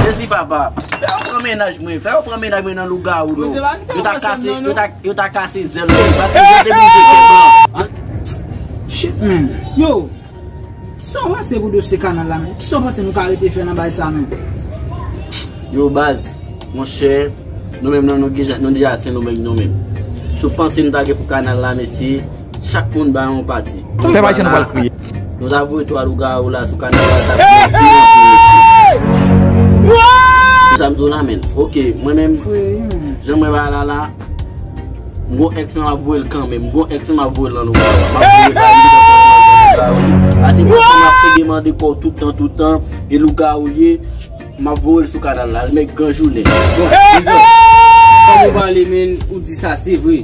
Jezi papa, fè yo pran mennaj mwen, fè yo pran mennaj mwen nan lougawou non. Bondye pa kite yo pran sèm nan non. Yo ta kase zèl mwen, yo ta kase zèl mwen, yo ta kase zèl mwen. Shit men, yo, kisa w panse pou dosye kanal la men? Kisa w panse nou ka rete fè nan bagay sa men? Yo baz, mon chè, nou menm nan nou deja se nou menm nou menm. Sou panse nou ta gen pou kanal la mesye? Chak moun bay yon pati. Fè m Ayisyen nou pral kriye. Nou ta voye 3 lougawou la sou kanal la ta fè yon pi anpil mesye. Wouuyy! Sa m di w la menn. Ok mwen menm jan mwen bay la la m gon ex mwen m ap voye l kanmenm. M gon ex mwen m ap voye l nan lougawou la. M ap voye bay li nan lougawou li. Pase m ap te demande kò w toutan toutan e lougawou l ye m ap voye l sou kanal la. Almèg gran jounen. Bon. Wouuyy! Kòm ou pale menn ou di sa se vre.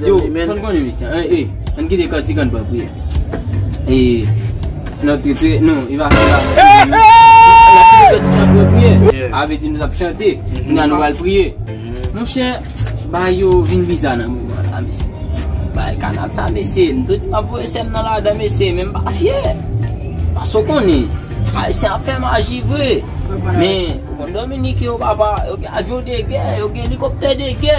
Yo, san konnen misye an e, an kite kantik an ban priye. E, nan trete, nou, e va fè la. E, e, e! An kite kantik an ban priye. A ve di nou tap chante, nou nan nou al priye. Mon chè, ba yo vin biza nan mou an la misye. Ba e kanal sa misye, nou trete pa pou e sèm nan la dan misye, men mba fye. Ba so konnen, a e se an fè maji vwe. Men, kon Dominique yo papa, yo gen avyon de gè, yo gen likopte de gè.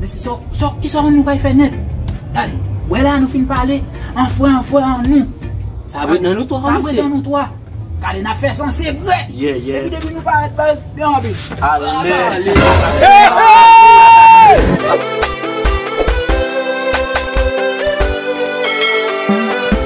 Mesi so so kisa nou bay fe net la li we la nou fin pale an fwe an fwe an nou sa bre nan nou 3 sa bre nan nou 3 gade nap fe san sekre epi depi nou paret baz yo anvi ale ale ale ale